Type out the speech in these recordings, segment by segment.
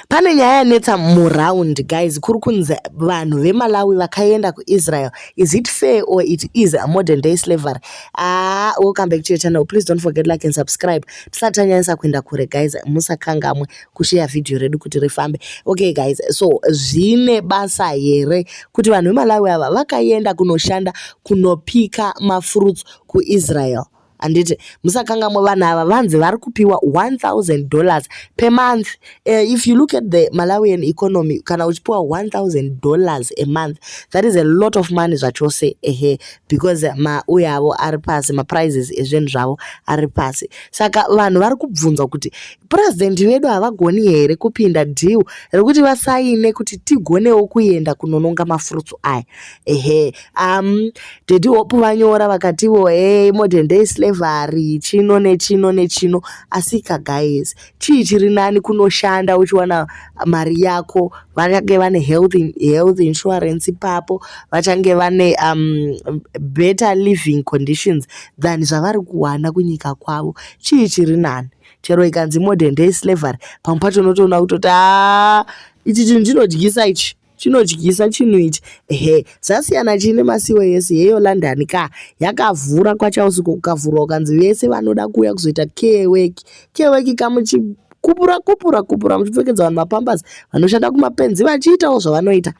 Pane nyaya yanetsa muround guys kuri kunzi vanhu vemalawi vakaenda kuisrael is it fair or it is a modern day slavery ah welcome back to your channel please don't forget like and subscribe tisati tanyanyisa kuenda kure guys musakangamwe kusheya vhidhiyo redu kuti rifambe okay guys so zvine basa here kuti vanhu vemalawi ava vakaenda kunoshanda kunopika mafruits kuisrael handiti musakangamwe vanhu ava vanzi vari kupiwa 1000 dollars per month uh, if you look at the malawian economy kana uchipiwa 1000 dollars a month that is a lot of money zvachose ehe because mauye avo ari pasi maprices ezvinhu zvavo ari pasi saka vanhu vari kubvunzwa kuti purezidendi vedu havagoni here kupinda deal rekuti vasaine kuti tigonewo kuenda kunononga mafurutsu aya ehe um daddy hope vanyora vakativo hey modern day slavery chino nechino nechino asika guys chii chiri nani kunoshanda uchiwana mari yako vachange vane health, health insurance ipapo vachange vane um, better living conditions than zvavari kuwana kunyika kwavo chii chiri nani chero ikanzi modern day slavery pamwe pacho unotoona kutoti a ah, ichi chinhu chinodyisa ichi chinodyisa chinhu ichi ehe zvasiyana chii nemasiwo yese yeyo london ka yakavhura kwachausiku kukavhurwa ukanzi vese vanoda kuuya kuzoita keweki keweki kamuchi kupura kupura kupura muchipfekedza vanhu mapambers vanoshanda kumapenzi vachiitawo zvavanoita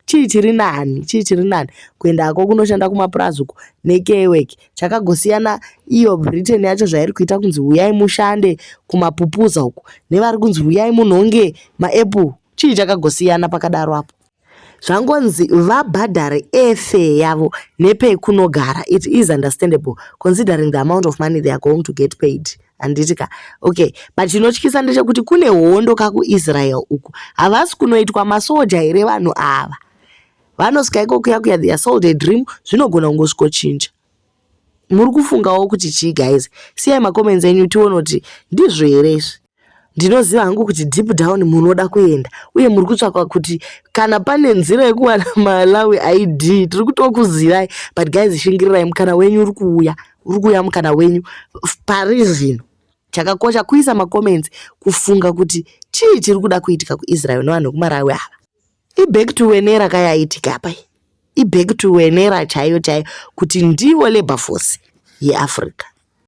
chii chiri nani chii chiri nani kuenda hako kunoshanda kumapurazi uko nekeweki chakagosiyana iyo britain yacho zvairi kuita kunzi huyai mushande kumapupuza uko nevari kunzi huyai munhonge maapple chii chakagosiyana pakadaro apo zvangonzi vabhadhare efe yavo nepekunogara it is understandable considering the amount of money they are going to get paid handiti ka okay but chinotyisa ndechekuti kune hondo kakuisrael uku havasi kunoitwa masoja here vanhu ava vanosvika iko kuya kuya their sold a dream zvinogona kungosvikochinja muri kufungawo kuti chii guys siyai macomments enyu tione kuti ndizvo here izvi ndinoziva hangu kuti deep down munoda kuenda uye muri kutsvaka kuti kana pane nzira yekuwana malawi id tiri kutokuzirai but guys shingirirai mukana wenyu uri kuuya uri kuuya mukana wenyu pari zvino chakakosha kuisa macomments kufunga kuti chii chiri kuda kuitika kuisrael nevanhu vekumarawi ava iback to wenera kayaitika apa iback to wenera chaiyo chaiyo kuti ndivo labour force yeafrica